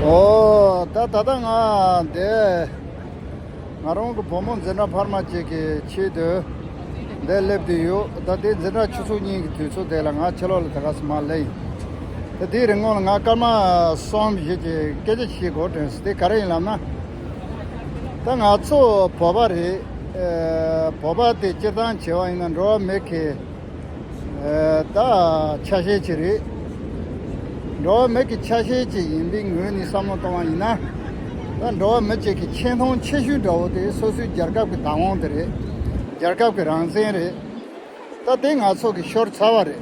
ཨོ། ད་ད་ལྟ་ང་འདས། ང་རང་གི་བུ་མོ་འཛིན་གྲྭ་འཕར་མ་གཅིག་གི་ཆེད་དུ་འདས་སླེབས་དུས་ཡོད། ད་དེའི་འཛིན་གྲྭ་ཆུ་ཚོད་གཉིས་ཀྱི་དུས་ཚོད་དེ་ལ་ང་ཕྱི་ལོག་ལ་ད་ག་ཟི་མ་ལེ་ཡིན། ད་དེའི་རིང་ངོ་ལ་ང་སྐར་མ་གསུམ་བཞི་གྱི་སྐད་ཆ་ཞིག་གོ་དྲན་སོང་དེ་ག་རེ་ཡིན་ལབ་ན། ད་ང་ཚོ་བོད་པ་རེད། བོད་པ་དེ་སྤྱིར་བཏང་བྱེས་པ་ཡིན་ན་འགྲོ་བ་མི་གི། ད་ཆ་ཤས་ཆེ་རེད། འགྲོ་བ་མི་གི་ཆ་ཤས་ཅིག་ཡིན་པའི་ངོས་ནས་བསམ་བློ་གཏོང་བ་ཡིན་ན། ད་འགྲོ་བ་མི་བཅས་ཀྱི་ཆེ་མཐོང་ཆེ་ཤོས་འདྲ་བོ་དེ་སོ་སོའི་རྒྱལ་ཁབ་ཀྱི་བདག་དབང་དེ་རེད། རྒྱལ་ཁབ་ཀྱི་རང་བཙན་རེད། ད་དེ་ང་ཚོ་གི་ཤོར་ཚར་བ་རེད།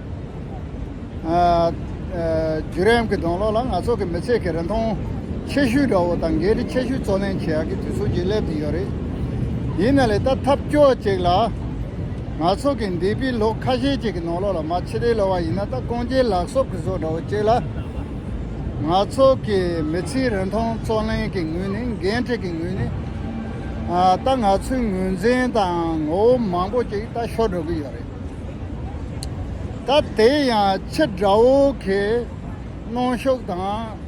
བརྒྱུད་རིམ་གྱི་གདོང་གློག་ལ་ང་ཚོ་གི་མི་ཚེ་གི་རིན་ཐང་ཆེ་ཤོས་འདྲ་བོ་དང་འགན་འཁྲི་ཆེ་ཤོས་བརྩོན་ལེན་བྱེད་ཡག་གི་དུས་ཚོད་ཅིག་སླེབས་ཀྱི་ཡོད་རེད། ཡིན་ན་ལས་ཀ་ཐབས་སྐྱོ་ཅིག་ལ། ང་ཚོ་གི་འདས་པའི་ལོ་ཁ་ཤས་ཅིག་གི་ནང་ལོགས་ལ་མ་ཕྱི་དེའི་ལོ་བ་ཡིན་ན་ད་རྐང་རྗེས་ལག་གསོབ་གི་བཟོ་འདྲ་བོ་ཅིག་ལ། ང་ཚོ་གི་མི་ཚེའི་རིན་ཐང་བརྩོན་ལེན་གྱི་ངོས་ནས་འགན་འཁྲི་གི་ངོས་ནས། ད་ང་ཚོའི་ངོས་འཛིན་དང་ངོ་བོ་མང་པོ་ཅིག་ད་ཤོར་འགྲོ་གི་ཡོད་རེད། ད་དེ་ཡང་ཕྱི་དགྲ་བོ་གིས་གནོན་ཤུགས་དང་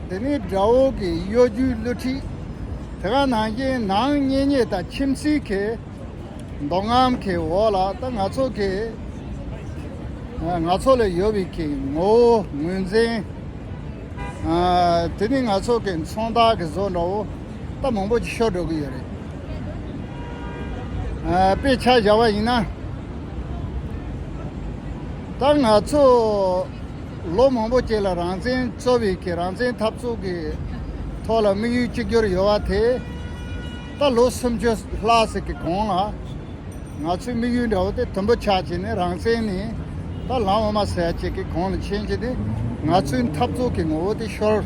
དེ་ནི་དགྲ་བོ་གི་གཡོ་སྒྱུའི་བསླུ་ཁྲིད་དེ་ག་ནང་བཞིན་ནང་གཉེན་ཉེ་དང་ཁྱིམ་སྲིད་ཀྱི་འདོ་རྔམ་གྱི་འོག་ལ་ད་ང་ཚོ་གི་ང་ཚོ་ལ་ཡོད་པའི་གི་ངོ་བོ་ངོས་འཛིན་དེ་ནི་ང་ཚོ་གི་མཚོན་རྟགས་གི་བཟོ་འདྲ་བོ་ད་མང་པོ་ཞིག་ཤོར་འགྲོ་གི་ཡོད་རེད། དཔེ་ཆ་བཞག་པ་ཡིན་ན་ད་ང་ཚོ་ལོ་མང་པོ་བྱས་ལ་རང་བཙན་རྩོད་བའི་གི་རང་བཙན་འཐབ་རྩོད་ཀྱི་ཐོག་ལ་དམིགས་ཡུལ་གཅིག་གྱུར་ཡོད་པ་དེ་ད་ལོ་སུམ་ཅུ་ལྷག་ཟིག་གི་གོང་ལ་ང་ཚོའི་དམིགས་ཡུལ་འདྲ་བོ་དེ་དུམ་བུ་ཆག་བྱས་ནས་རང་བཙན་ནི་ད་ལམ་འོ་མ་ཟད་ཅིག་གི་གོང་ལ་ཕྱིན་རྗེས་དེ་ང་ཚོའི་འཐབ་རྩོད་ཀྱི་ངོ་བོ་དེ་ཤོར།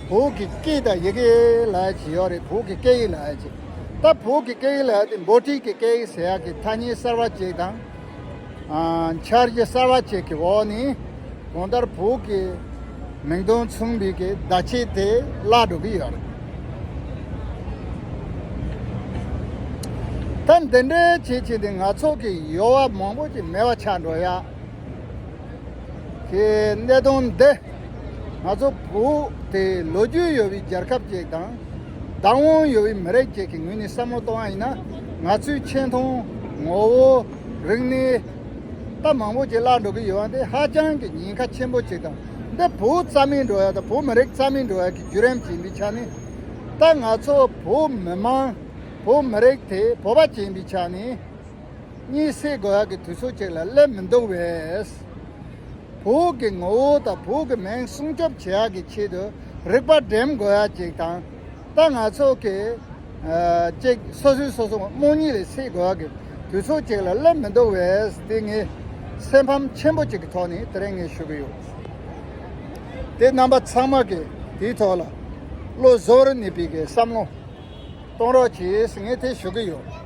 བོད་ཀྱི་སྐད་དང་ཡི་གེ་ལ་ཇི་ཡོད་རེད་བོད་ཀྱི་སྐད་ཡིག་ལ་ཇི། ད་བོད་ཀྱི་སྐད་ཡིག་ལ་དེ་འབོ་ཁྲིག་གི་སྐད་ཡིག་ཟེར་ཡག་གི་ཐ་སྙད་གསར་བ་བཅས་དང། འཆར་གཞི་གསར་བ་བཅས་ཀྱི་འོག་ནས་གང་ལྟར་བོད་ཀྱི་མིང་དོན་མཚུངས་པའི་གི་བརྡ་ཆད་དེ་བརླག་འགྲོ་གི་ཡོད་རེད། ད་འདི་འདྲའི་བྱེད་བྱེད་དེ་ང་ཚོ་གི་ཡོ་བ་མང་པོ་ཅིག་མེད་པ་ཆགས་འགྲོ་ཡ། ཀྱི་གནད་དོན་འདི་ང་ཚོ་བོད་དེ་ལོ་རྒྱུས་ཡོད་པའི་རྒྱལ་ཁབ་ཅིག་དང་བདག་དབང་ཡོད་པའི་མི་རིགས་ཅིག་གི་ངོས་ནས་བསམ་བློ་གཏོང་བ་ཡིན་ན་ང་ཚོའི་ཆེ་མཐོང་ངོ་བོ་རིག་གནས་ལྟ་མང་པོ་ཅིག་བརླག་འགྲོ་གི་ཡོད་པ་འདི་ཧ་ཅང་གི་ཉེན་ཁ་ཆེན་པོ་ཅིག་དང་འདི་བོད་རྩ་མེད་འགྲོ་ཡག་དང་བོད་མི་རིགས་རྩ་མེད་འགྲོ་ཡག་གི་བརྒྱུད་རིམ་ཅིག་ཡིན་པའི་ཆ་ནས་ད་ང་ཚོ་བོད་མི་དམངས་བོད་མི་རིགས་དེ་བོད་པ་ཅིག་ཡིན་པའི་ཆ་ནས། གཉིད་སད་དགོས་ཡག་གི་དུས་ཚོད་ཅིག་ལ་སླེབས་མི་འདུག་བས། བོད་ཀྱི་ངོ་བོ་དང་བོད་ཀྱི་མིང་སྲུང་སྐྱོབ་བྱེད་ཡག་གི་ཆེད་དུ་རིག་པ་འགྲེམས་དགོས་ཡག་ཅིག་དང། ད་ང་ཚོ་གི། ཅིག་སོ་སོའི་སོ་སོ་རྨོངས་གཉིད་ལས་སད་དགོས་ཡག་གི་དུས་ཚོད་ཅིག་ལ་སླེབས་མི་འདུག་བས་དེ་ངའི་སེམས་ཕམ་ཆེན་པོ་ཅིག་གི་ཐོག་ནས་དེ་རིང་ངས་ཞུ་གི་ཡོད། དེ་རྣམ་པ་ཚང་མ་གིས་དེའི་ཐོག་ལ་བློ་བཟོ་རུ་གནས་པའི་གི་བསམ་བློ་གཏོང་རོགས་གྱིས་ངས་དེ་ཞུ་གི་ཡོད།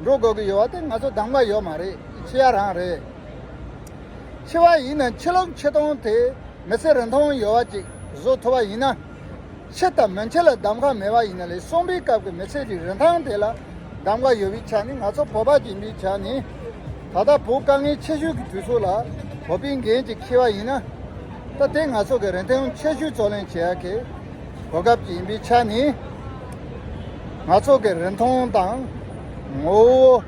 འགྲོ་དགོས་ཀྱི་ཡོད་པ་དེ་ང་ཚོ་སྡང་བ་ཡོད་མ་རེད་ཁྱི་ཡ་རང་རེད། ཁྱི་བ་ཡིན་ན་ཁྱི་ལོག་ཁྱི་སྟོང་དེ་མི་ཚེ་རིང་ཐུང་ཡོད་བ་ཅིག་བཟོ་ཐུབ་པ་ཡིན་ན། ཁྱི་དང་མི་འཁྱི་ལ་གདམ་ག་མེད་པ་ཡིན་ན་ལས་གསོན་པའི་སྐབས་ཀྱི་མི་ཚེ་རི་རིན་ཐང་དེ་ལ་གདམ་ག་ཡོད་པའི་ཆ་ནས་ང་ཚོ་བོད་པ་སྦྱིན་པའི་ཆ་ནས་ད་ལྟ་བོད་དཀའ་ངལ་ཆེ་ཤོས་ཀྱི་དུས་ཚོད་ལ་བོད་པའི་འགན་གཅིག་ཁྱི་བ་ཡིན་ན། ད་དེ་ང་ཚོ་གི་རིན་ཐང་ཆེ་ཤོས་རྩོད་ལེན་བྱེད་ཡག་གི་གོ་སྐབས་ཀྱི་ཡིན་པའི་ཆ་ནས། ང་ཚོ་གི་རིན་ཐང་དང། ངོ་བོ།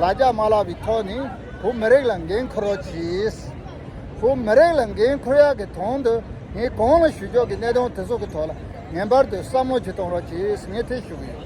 ལ་རྒྱ་མ་ལགས་པའི་ཐོག་ནས་བོད་མི་རིགས་ལ་འགན་འཁུར་རོགས་གྱིས། བོད་མི་རིགས་ལ་འགན་འཁུར་ཡག་གི་དོན་དུ་ངས་གང་ལ་ཞུ་ཕྱོགས་ཀྱི་གནད་དོན་དེ་ཚོ་གི་ཐོག་ལ་ངན་པར་དུ་བསམ་བློ་བྱེད་གཏོང་རོགས་གྱིས་ངས་ཐེ་ཞུ་གི་ཡོད།